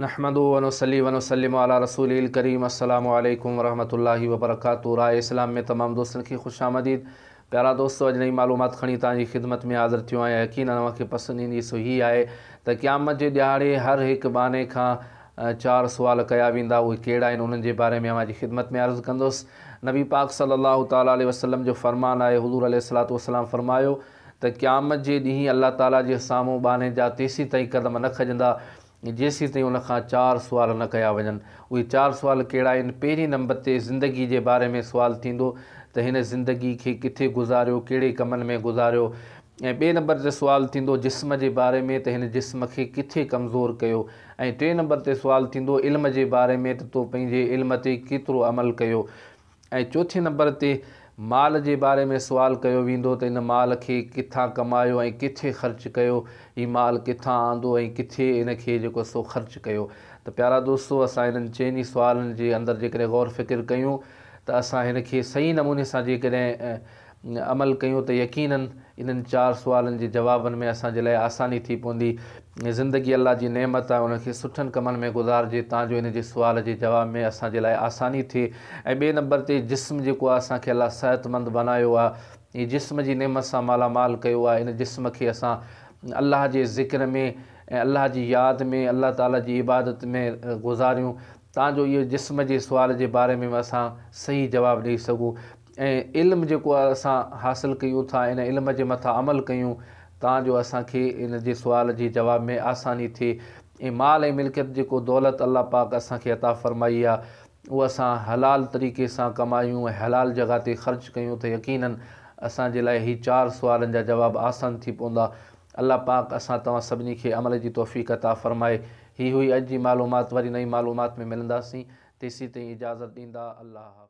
نحمده ونصلي ونسلم علي رسوله الڪريم السلام عليڪم ورحمة الله وبرڪاته راء اسلام ۾ تمام دوستن کي خوش آمديد پيارا دوستو اڄ نئي معلومات کڻي توهان جي خدمت ۾ حاضر ٿيو آهيان يقينن اوهان کي پسند ايندي سو هي آهي ته قيامت جي ڏيهاڙي هر هڪ ٻانهي کان چار سوال ڪيا ويندا اهي ڪهڙا آهن انهن جي باري ۾ اوهان جي خدمت ۾ عرض ڪندس نبي پاڪ صلي الله تعالٰي عليه وسلم جو فرمان آهي حضور عليه الصلوة والسلام فرمايو ته قيامت جي ڏينهن الله تعالي جي سامهون ٻانهي جا تيسيتائين قدم نه کڄندا جيسيتائين ان کان چار سوال نه ڪيا وڃن. اهي چار سوال ڪهڙا آهن؟ پهرين نمبر تي زندگي جي باري ۾ سوال ٿيندو ته هن زندگي کي ڪٿي گذاريو، ڪهڙي ڪمن ۾ گذاريو ۽ ٻئي نمبر تي سوال ٿيندو جسم جي باري ۾ ته هن جسم کي ڪٿي ڪمزور ڪيو ۽ ٽئين نمبر تي سوال ٿيندو علم جي باري ۾ ته تو پنهنجي علم تي ڪيترو عمل ڪيو. ۽ چوٿين نمبر تي مال جي باري ۾ سوال ڪيو ويندو ته ان مال کي ڪٿان ڪمايو ۽ ڪٿي خرچ ڪيو هي مال ڪٿان آندو ۽ ڪٿي ان کي جيڪو سو خرچ ڪيو ته پيارا دوستو اسان انهن چئن ئي سوالن جي اندر جيڪڏهن غور فڪر ڪيون ته اسان هن کي صحيح نموني سان جيڪڏهن عمل ڪيون ته يقيناً انهن چار سوالن جي جوابن ۾ اسان جي لاء آساني ٿي پوندي. زندگي الله جي نعمت آهي ان کي سٺن ڪمن ۾ گذارجي تان جو ان جي سوال جي جواب ۾ اسان جي لاء آساني ٿئي ۽ ٻئي نمبر تي جسم جيڪو آهي اسان کي الله صحت مند بنايو آهي جسم جي نعمت سان مالا مال ڪيو آهي ان جسم کي اسان الله جي ذڪر ۾ ۽ الله جي ياد ۾ الله تعالي جي عبادت ۾ گذاريون تان جو اهي جسم جي سوال جي باري ۾ به اسان صحيح جواب ڏئي سگهون. ۽ علم جيڪو اسان حاصل ڪيون ٿا ان علم جي مٿان عمل ڪيون تان جو اسان کي ان جي سوال جي جواب ۾ آساني ٿئي ۽ مال ۽ ملڪيت جيڪو دولت الله پاڪ اسان کي عطا فرمائي آ اهو اسان حلال طريقي سان ڪمايون ۽ حلال جڳهه تي خرچ ڪيون ته يقيناً اسان جي لاء هي چار سوالن جا جواب آسان ٿي پوندا الله پاڪ اسان توهان سڀني کي عمل جي توفيق عطا فرمائي هي هئي اڄ جي معلومات وري نئين معلومات ۾ ملنداسين تيسين تائين اجازت ڏيندا الله حافظ.